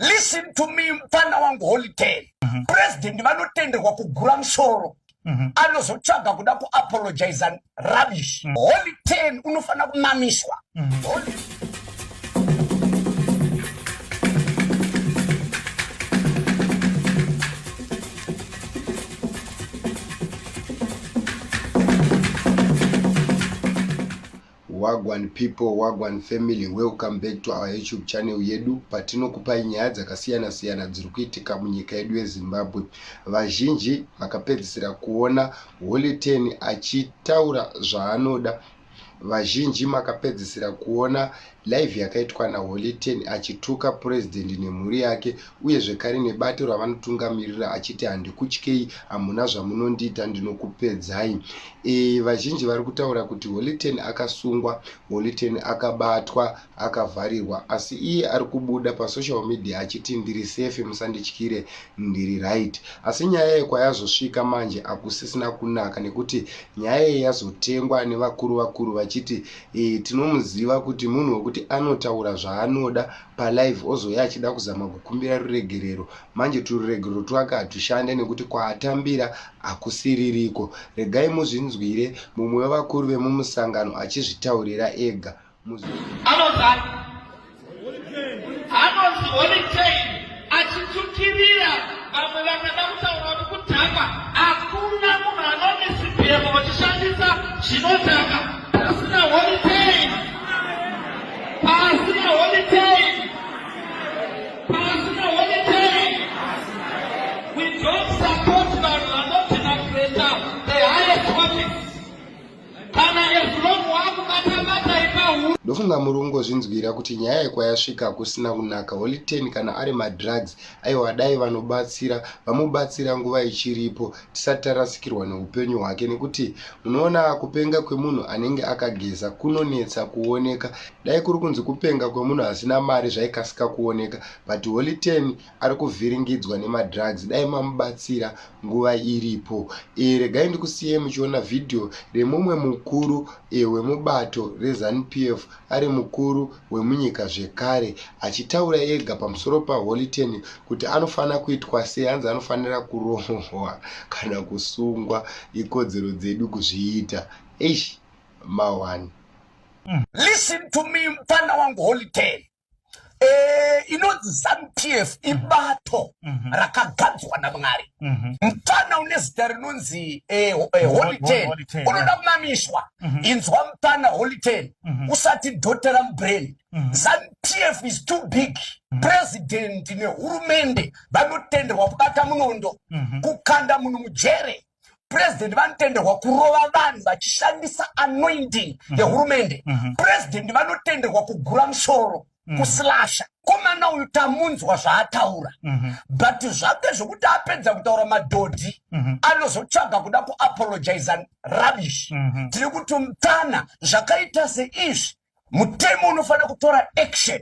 listen to me mfana wangu holiday mm -hmm. president vanotenderwa kugura musoro mm -hmm. anozotsvaga kuda kuapologiza rubbish mm -hmm. holy ten unofanira kumamiswa mm -hmm. holy... Wagwan people, wagwan family, welcome back to our YouTube channel yedu patinokupai nyaya dzakasiyana siyana dziri kuitika munyika yedu yeZimbabwe. Vazhinji makapedzisira kuona Holy Ten achitaura zvaanoda vazhinji makapedzisira kuona live yakaitwa naholiten achituka purezidendi nemhuri yake uye zvekare nebato ravanotungamirira achiti handikutyei hamuna zvamunondiita ndinokupedzai e, vazhinji vari kutaura kuti holiten akasungwa holiten akabatwa akavharirwa asi iye ari kubuda pasocial media achiti ndiri safe musandityire ndiri right asi nyaya yekwayazosvika manje akusisina kunaka nekuti nyaya ye yazotengwa nevakuru vakuru vachiti e, tinomuziva kuti munhu wekuti anotaura zvaanoda palive ozouya achida kuzama kukumbira ruregerero manje tururegerero twake hatushande nekuti kwaatambira hakusiririko regai muzvinzwire mumwe wevakuru vemumusangano achizvitaurira ega anozani Achitukirira vamwe vakada kutaura kuti kudhakwa hakuna munhu anomisibhemo vachishandisa zvinodhaka pasina holiday pasina holiday pasina holiday we don't support vanhu vanoti nakureta the highest office kana ezulong wakubatabata ipahuru ndofunga muri kungozvinzwira kuti nyaya yekwayasvika kusina kunaka holy ten kana ari madrugs aiwa dai vanobatsira vamubatsira nguva ichiripo tisati tarasikirwa neupenyu hwake nekuti munoona kupenga kwemunhu anenge akageza kunonetsa kuoneka dai kuri kunzi kupenga kwemunhu asina mari zvaikasika kuoneka but holy ten ari kuvhiringidzwa nemadrugs dai mamubatsira nguva iripo e, regai ndikusiyei muchiona vhidhiyo remumwe mukuru e, wemubato reZanu PF ari mukuru wemunyika zvekare achitaura ega pamusoro paHoly Ten kuti anofanira kuitwa sei hanzi anofanira kurohwa kana kusungwa ikodzero dzedu kuzviita eish mawani Listen to me mfana wangu Holy Ten Eh, inonzi zanupf ibato mhm. rakagadzwa namwari mhm. mupfana une zita rinonzi eh, eh, holiten unoda kumamiswa mhm. inzwa mupfana holiten usati dhotera mubrain zanupf is too big purezidhendi nehurumende vanotenderwa kubata munondo kukanda munhu mujere president vanotenderwa kurova vanhu vachishandisa anointing mhm. yehurumende mm -hmm. president vanotenderwa kugura musoro mm -hmm. kuslasha komana uyu tamunzwa zvaataura mm -hmm. but zvake zvekuti apedza kutaura madhodhi mm -hmm. anozotsvaga kuda kuapologiza rubbish mm -hmm. tiri kuti mtana zvakaita seizvi mutemo unofanira kutora action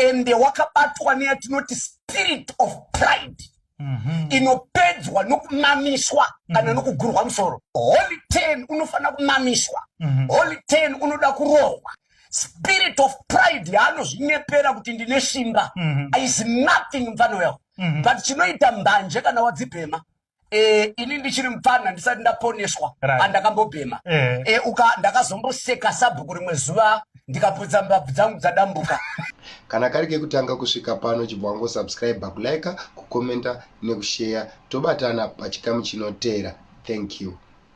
and wakabatwa neyatinoti spirit of pride mm -hmm. inopedzwa nokumamiswa kana mm -hmm. nokugurwa musoro holy ten unofanira kumamiswa mm -hmm. holy ten unoda kurohwa spirit of pride yaanozvinyepera kuti ndine simba mm -hmm. is nothing mfano yawo mm -hmm. but chinoita mbanje kana wadzibhema Eh, ini ndichiri mupfanha ndisati ndaponeswa right. andakambobhema eh. Eh, uka ndakazomboseka sabhuku rimwe zuva ndikaputsa mbabvu dzangu dzadambuka kana kari kekutanga kusvika pano chibva wangosubscribe kulika kukomenta nekusheya tobatana pachikamu chinotera thank you